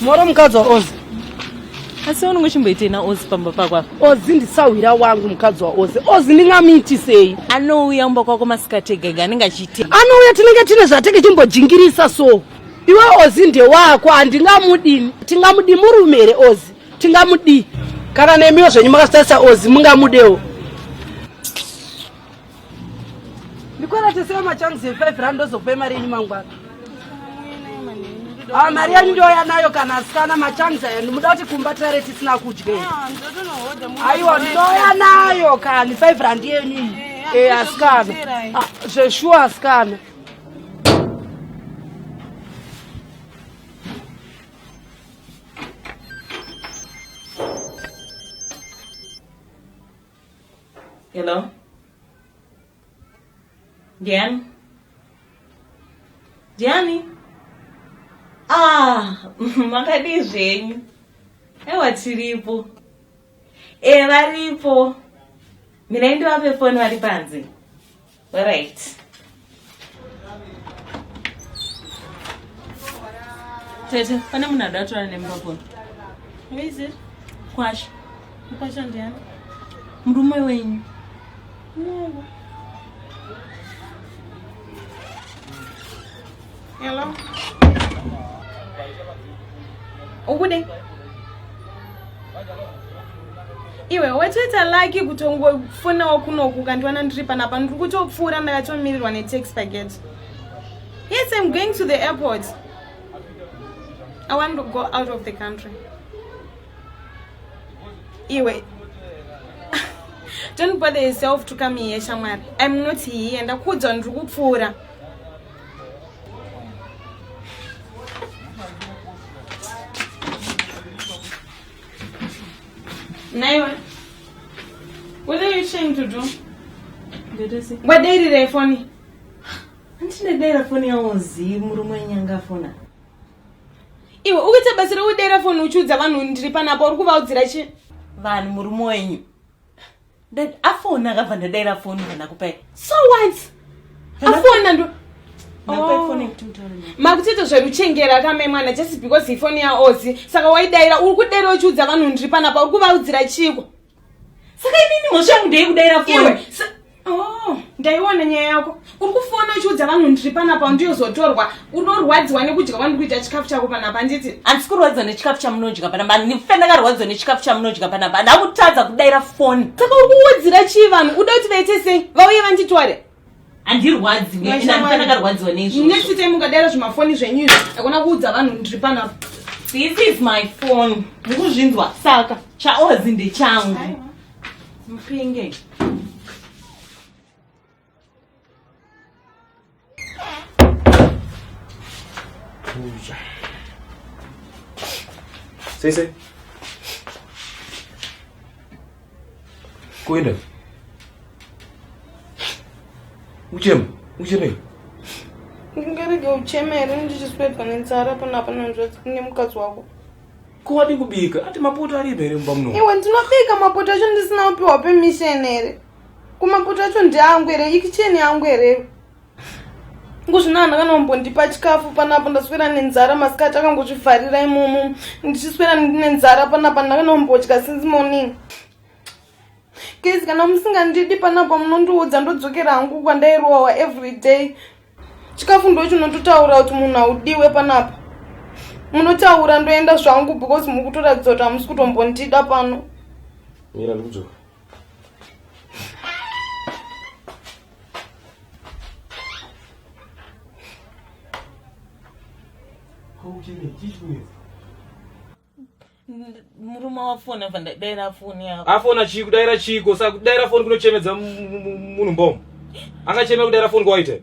moro mukadzi waozi asi unenge uchimboitei naozi pamba pako apa ozi ndisahwira wangu mukadzi waozi ozi ndingamuitisei anouya umba kwako masikati egege anenge achiitei anouya tinenge tine zvatenge chimbojingirisa so iwe ozi ndewako handingamudini tingamudi murume here ozi tingamudii kana nemiwo zvenyu makasitarisa ozi mungamudewo ndikwereteseo machanzi efive rand ndozokupa imari yenyu mangwana Ah, mari yanyu ndoya nayo kana asikana machanzi aya ndimuda kuti kumba tare tisina kudya ah, aiwa ndoya nayo kani five rand yenyu iyi eh, eh, asikana ah, zveshuwa asikana Hello? Diane? Diane? Ah, makadii zvenyu? Ewa tiripo. E, varipo. Mina ndivape foni vari panze. Alright. Tete, pane munhu ada kutora nemba kona. Who is it? Kwasha. Kwasha ndiani? Murume wenyu. No. Hello. Ukude? Iwe watoita lucky kutongofonawo kunoku ukandiwana ndiri panapa ndiri kutopfuura ndakatomirirwa netax paget. Yes, I'm going to the airport. I want to go out of the country. Iwe. Don't bother yourself to come here, Shamar. I'm not here. Ndakuudza ndiri kupfuura. Naiwe, what are you trying to do? Wadairira ifoni. Handinadaira foni yawo zii murume wenyanga afona. Iwe ukuita basa rekudaira foni uchiudza vanhu ndiri panapo uri kuvaudzira chi? Vanhu murume wenyu. Dad, afona akabva ndadaira foni kana kupai. So what? Afona ndo oh. makutoita zveruchengera kame mwana just because ifoni yaozi saka waidaira uri kudaira uchiudza vanhu ndiri panapa uri kuvaudzira chiiko saka inini mhosva yangu ndeyekudaira foni oh, ndaiona nyaya yako uri kufona uchiudza vanhu ndiri panapa ndiyozotorwa unorwadziwa nekudya kwandi kuita chikafu chako panapa handiti handisi kurwadziwa nechikafu chamunodya panapa ndife ndakarwadziwa nechikafu chamunodya panapa handa kutadza kudaira foni saka uri kuudzira chii vanhu uda kuti vaite sei vauye vanditware handirwadziweandakarwadziwa neizvo next time ukadaira zvimafoni zvenyu izvi akona kuudza vanhu ndiri panapa this is my phone ndikuzvinzwa saka chaozi ndechangu mupenge Sei sei. Kuenda. Uchema, uchemei? Ungarega uchema here ndichiswedwa nenzara pana pana hanzvadzi kune mukadzi wako. Ko wadi kubika? Ati mapoto aripo here mumba muno? Iwe ndinobika mapoto acho ndisina kupiwa permission here? kumapoto acho ndeangu here ikicheni yangu here kuzvino anhu akanombondipa chikafu panapo ndaswera nenzara masikati akangozvivharira imomo ndichiswera nenzara panapa ndakanombodya since morning kezi kana musingandidi panapa munondiudza ndodzokera hangu kwandairohwa every day chikafu ndo chinototaura kuti munhu haudiwe panapa munotaura ndoenda zvangu because mukutoratidza kuti hamusi kutombondida pano mira ndikudzoka murume wafona vandaidayira foni yako afona chii kudayira chiiko sa kudayira foni kunochemedza munhu mbomo angachemera kudayira foni kwawaite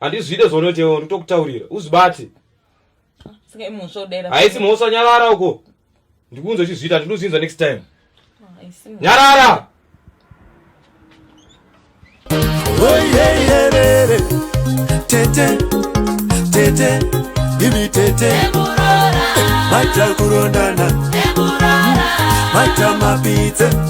handizvide zvaunoitewo nditokutaurira uzvibate haisi mhosva nyarara uko ndikunze uchizviita ndinozvinza next time ah, nyarara tete tete ibi tete maita kurondana maita mapidze